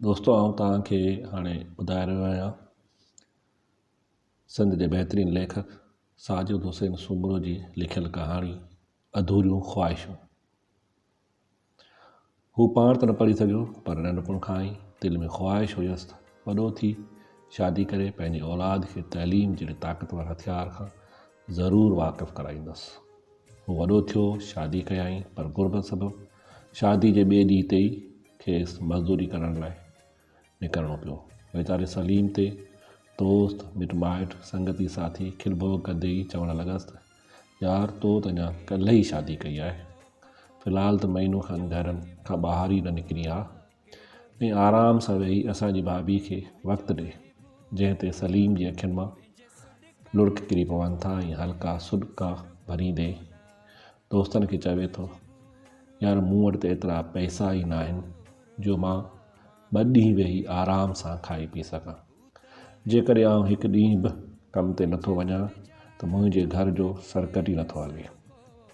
دوستو آئون توهان کي هاڻي ٻڌائي رهيو آهيان سنڌ جي بهترين ليکڪ ساجد حسين سومرو جي لکيل ڪهاڻي اڌوريون خواهشون هو پاڻ ته نه پڙهي سگهيو پر ننڍپڻ کان ئي دل ۾ خواهش هيس ته وڏو ٿي شادي ڪري پنهنجي اولاد کي تعليم جهڙي طاقتور هٿيار کان ضرور واقف ڪرائيندس. هو وڏو ٿيو، شادي ڪيائين پر غربت سبب شادي جي ٻئي ڏينهن تي ئي کيس مزدوري ڪرڻ لاء نڪرڻو پيو. ويچاري سليم تي دوست، مٽ مائٽ، سنگتي ساٿي کل ڀوڳ ڪندي ئي چوڻ لڳس ته يار تو ته اڃا ڪلهه ئي شادي ڪئي آهي. في الحال ته مهينو کن گهر کان ٻاهر ئي نه نڪرين ها. ۽ آرام سان ويهي اسان جي ڀاڀي کي وقت ڏي، جنهن تي سليم جي اکين مان لڙڪ ڪري پون ٿا ۽ هلڪا سڏڪا ڀريندي دوستن کي چوي ٿو، يار مون وٽ ته ايترا پئسا ئي ناهن جو مان ٻه ڏينهن ويهي آرام سان کائي پي سگهان. جيڪڏهن آئون هڪ ڏينهن به ڪم تي نٿو وڃان ته منهنجي گهر جو سرڪٽ ئي نٿو هلي.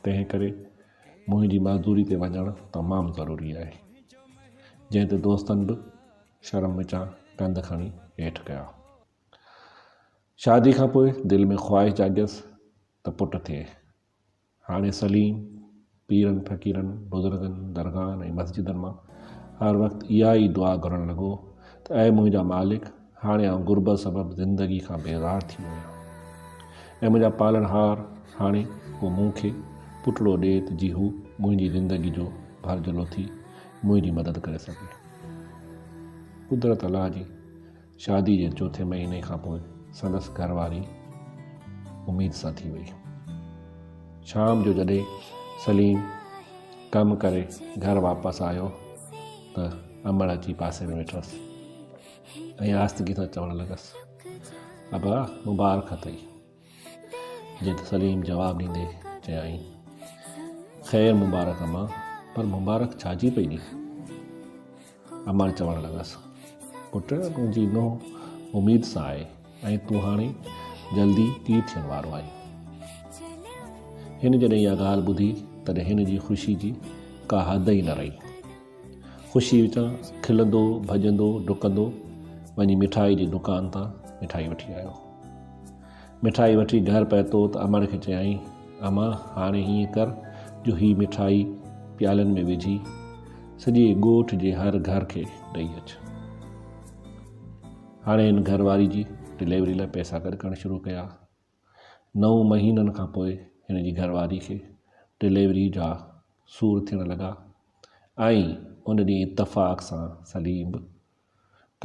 تنهن ڪري منهنجي معذوري تي وڃڻ تمام ضروري آهي. جنهن تي دوستن به شرم وچان ڪنڌ کڻي هيٺ ڪيا. شادي کانپوء دل ۾ خواهش جاڳيس ته پٽ ٿئي. هاڻي سليم پيرن فقيرن، بزرگن، درگاهن ۽ مسجدن مان هر وقت اها ئي دعا گهرڻ لڳو ته اي منهنجا مالڪ هاڻي آئون غربت سبب زندگي کان بيزار ٿي ويو آهيان ۽ منهنجا پالڻهار هاڻي ڪو مون کي پٽڙو ڏي ته جي هو منهنجي زندگي جو ڀرجهلو ٿي منهنجي مدد ڪري سگهي. قدرت الله جي شادي جي چوٿين مهيني کان پوء سندس گهر واري اميد سان ٿي وئي. شام جو جڏهن سليم ڪم ڪري گهر واپس آيو ته امڙ اچي پاسي ۾ ويٺس. ۽ آهستگيء سان چوڻ لڳس، ابا مبارڪ اٿئي. جنهن تي سليم جواب ڏيندي چيائين، خير مبارڪ امان، پر مبارڪ ڇا جي پئي ڏين؟ امان چوڻ لڳس، پٽ تنهنجي نوح اميد سان آهي ۽ تون هاڻي جلدي پيء ٿيڻ وارو آهين. هن جڏهن اها ڳالهه ٻڌي تڏهن هن جي خوشي جي ڪا حد ئي نه رهي. خوشي وچان کلندو ڀڄندو ڊڪندو وڃي مٺائي جي دڪان تان مٺائي وٺي آيو مٺائي وٺي گهر پهتو ته امڙ کي چيائين اما هاڻي هيئن ڪر جو هي مٺائي پيالن ۾ وجهي سڄي ڳوٺ جي هر گهر کي ڏئي اچ هاڻي هن گهر واري جي ڊليوري لاء پئسا گڏ ڪرڻ شروع ڪيا نو مهينن کان پوء هن جي گهر واري کي ڊليوري جا سور ٿيڻ لڳا ۽ ان ڏينهن اتفاق سان سليم به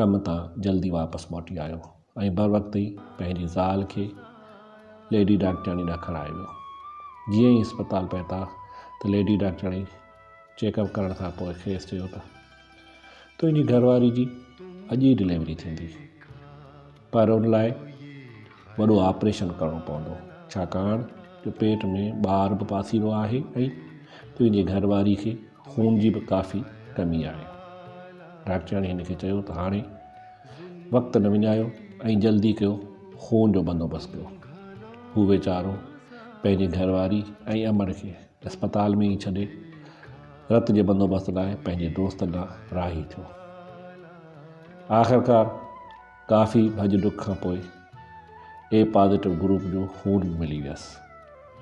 ڪم تان جلدي واپس موٽي آيو ۽ بروقت ئي پنهنجي زال کي ليڊي ڊاڪٽرياڻي ڏانهن کڻائي ويو. جيئن ئي اسپتال پهتا ته ليڊي ڊاڪٽرياڻي چيڪ اپ ڪرڻ کان پوء کيس چيو ته تنهنجي گهر واري جي اڄ ئي ڊليوري ٿيندي. پر ان لاء وڏو آپريشن ڪرڻو پوندو ڇاڪاڻ جو پيٽ ۾ ٻار به پاسيرو آهي ۽ تنهنجي گهر واري کي خون جي به ڪافي ڪمي آهي ڊاڪٽرياڻي هن کي چيو ته هاڻي وقت نه وڃايو ۽ جلدي ڪيو خون جو بندوبست ڪيو هو ويچارو پنهنجي گهر واري ۽ امڙ کي اسپتال ۾ ئي ڇڏي رت جي بندوبست لاء پنهنجي دوستن ڏانهن راهي ٿيو آخرڪار ڪافي ڀڄ ڊک کان پوء اي پازيٽو گروپ جو خون به ملي ويس.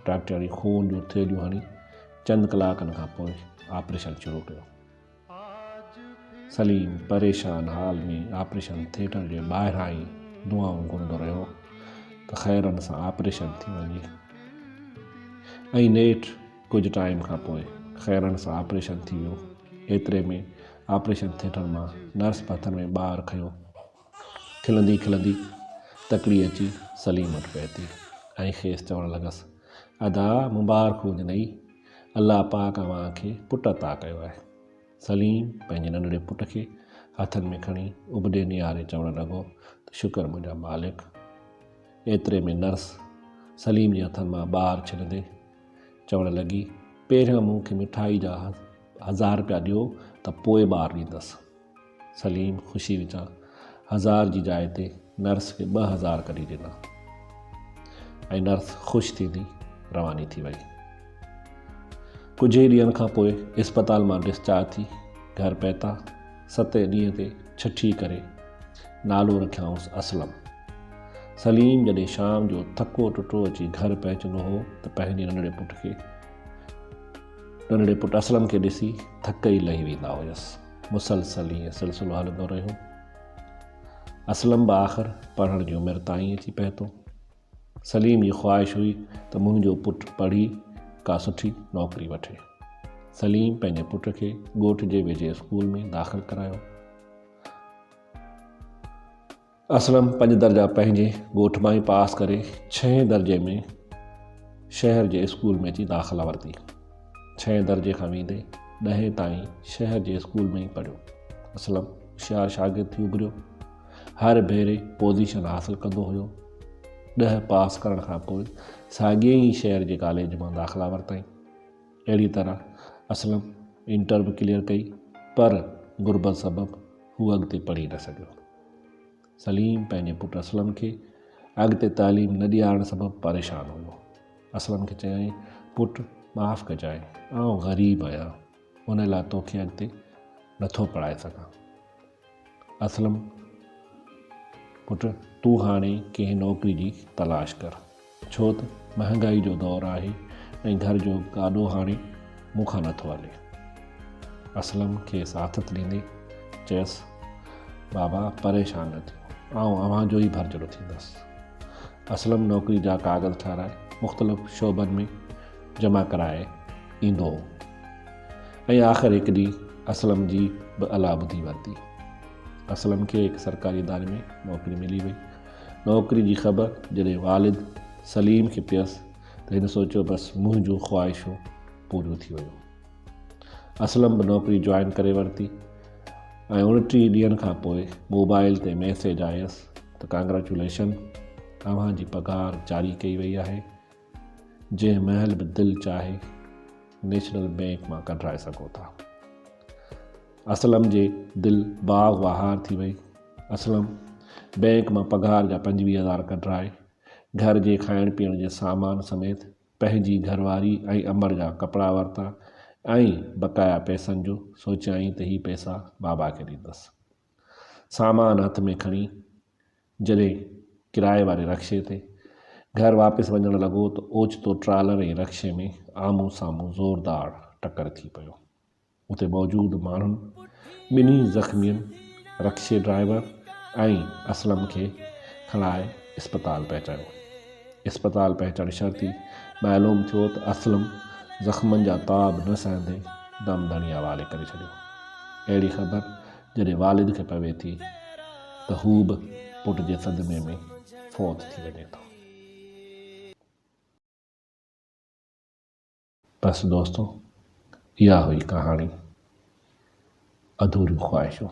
ڊاڪٽرياڻي خون جون ٿيلهيون هڻي چند ڪلاڪن کان پوء آپريشن شروع ڪيو. سليم پريشان حال ۾ آپريشن ٿيٽر جي ٻاهران ئي دعائون گهرندو رهيو ته خيرن سان آپريشن ٿي وڃي ۽ نيٺ ڪجهه ٽائيم کان پوء خيرڻ سان آپريشن ٿي ويو. ايتري ۾ آپريشن ٿيٽر مان نرس ڀٿن ۾ ٻار کنيو. کلندي کلندي تڪڙي اچي سليم وٽ پهتي ۽ کيس چوڻ لڳس، ادا مبارڪ هجنئي، الله پاڪ اوهان کي پٽ عطا ڪيو آهي. سليم پنهنجي ننڍڙي پٽ کي هٿن ۾ کڻي ابڏي نهاري چوڻ لڳو ته شڪر منهنجا مالڪ. ايتري ۾ نرس سليم جي هٿن مان ٻار ڇڏندي، چوڻ لڳي، پهريان مون کي مٺائي جا هزار رپيا ڏيو ته پوء ٻار ڏيندس. سليم خوشي وچان هزار جي جاء تي نرس کي ٻه هزار ڪڍي ڏنا ۽ نرس خوش ٿيندي رواني ٿي وئي. ڪجهه ئي ڏينهن کان پوء اسپتال مان ڊسچارج ٿي گهر پهتا. ستين ڏينهن تي ڇٺي ڪري نالو رکيائونس اسلم. سليم جڏهن شام جو ٿڪو ٽٽو اچي گهر پهچندو هو ته پنهنجي ننڍڙي پٽ کي ننڍڙي پٽ اسلم کي ڏسي ٿڪ ئي لهي ويندا هيس. مسلسل ائين سلسلو هلندو رهيو. اسلم به آخر پڙهڻ جي عمر تائين اچي پهتو. سليم جي خواهش هئي ته منهنجو پٽ پڙهي ڪا سٺي نوڪري وٺي. سليم پنهنجي پٽ کي ڳوٺ جي ويجهي اسڪول ۾ داخل ڪرايو. اسلم پنج درجا پنهنجي ڳوٺ مان ئي پاس ڪري ڇهين درجي ۾ شهر جي اسڪول ۾ اچي داخلا ورتي. ڇهين درجي کان ويندي ڏهين تائين شهر جي اسڪول ۾ ئي پڙهيو. اسلم هوشيار شاگرد ٿي اڀريو. هر ڀيري پوزيشن حاصل ڪندو هيو. ڏهه پاس ڪرڻ کان پوء ساڳئي ئي شهر جي ڪاليج مان داخلا ورتائين. اهڙي طرح اسلم انٽر به ڪليئر ڪئي پر غربت سبب هو اڳتي پڙهي نه سگهيو. سليم پنهنجي پٽ اسلم کي اڳتي تعليم نه ڏيارڻ سبب پريشان هيو. اسلم کي چيائين، پٽ معاف ڪجانء، آئون غريب آهيان، ان لاء توکي اڳتي نٿو پڙهائي سگهان. اسلم، پٽ تون هاڻي ڪنهن نوڪري جي تلاش ڪر، ڇو ته مهانگائي جو دور آهي ۽ گهر جو گاڏو هاڻي مون کان نه ٿو هلي. اسلم کيس آٿت ڏيندي چيس، بابا پريشان نه ٿيو، آئون اوهان جو ئي ڀرجهڙو ٿيندس. اسلم نوڪري جا ڪاغذ ٺهرائي مختلف شعبن ۾ جمع ڪرائي ايندو هو. ۽ آخر هڪ ڏينهن اسلم جي به الا ٻڌي ورتي. اسلم کي هڪ سرڪاري اداري ۾ نوڪري ملي وئي. نوڪري جي خبر جڏهن والد سليم کي پيس ته هن سوچيو بس منهنجون خواهشون پوريون ٿي ويون. اسلم به نوڪري جوائن ڪري ورتي ۽ اڻٽيهه ڏينهن کان پوء موبائل تي ميسيج آيس ته ڪانگريچوليشن اوهان جي پگهار جاري ڪئي وئي آهي. جنهن مهل به دل چاهي نيشنل بئنڪ مان ڪڍرائي سگهو ٿا. اسلم جي دل باغ واهار ٿي وئي. اسلم بئنڪ مان پگهار جا پنجويهه هزار ڪڍرائي گهر جي کائڻ پيئڻ جي سامان سميت پنهنجي گهرواري ۽ امڙ جا ڪپڙا ورتا ۽ بقايا پئسن جو سوچيائين ته هي پئسا بابا کي ڏيندس. سامان هٿ ۾ کڻي جڏهن ڪرائي واري رڪشي تي گهر واپس وڃڻ لڳو ته اوچتو ٽرالر ۽ رڪشي ۾ آمهون سامهون زوردار ٽڪر ٿي پيو. اتي موجود ماڻهن ٻنهي زخمين رڪشي ڊرائيور ۽ اسلم کي کڻائي اسپتال پهچايو. اسپتال پهچڻ شرطي معلوم ٿيو ته اسلم زخمن جا تاب نه سهندي دم دڻي حوالي ڪري ڇڏيو. اهڙي خبر جڏهن والد کي پوي ٿي ته هو به پٽ جي صدمي ۾ فوت ٿي وڃي ٿو. بس دوستو اها هئي ڪهاڻي اڌوريون خواهشون.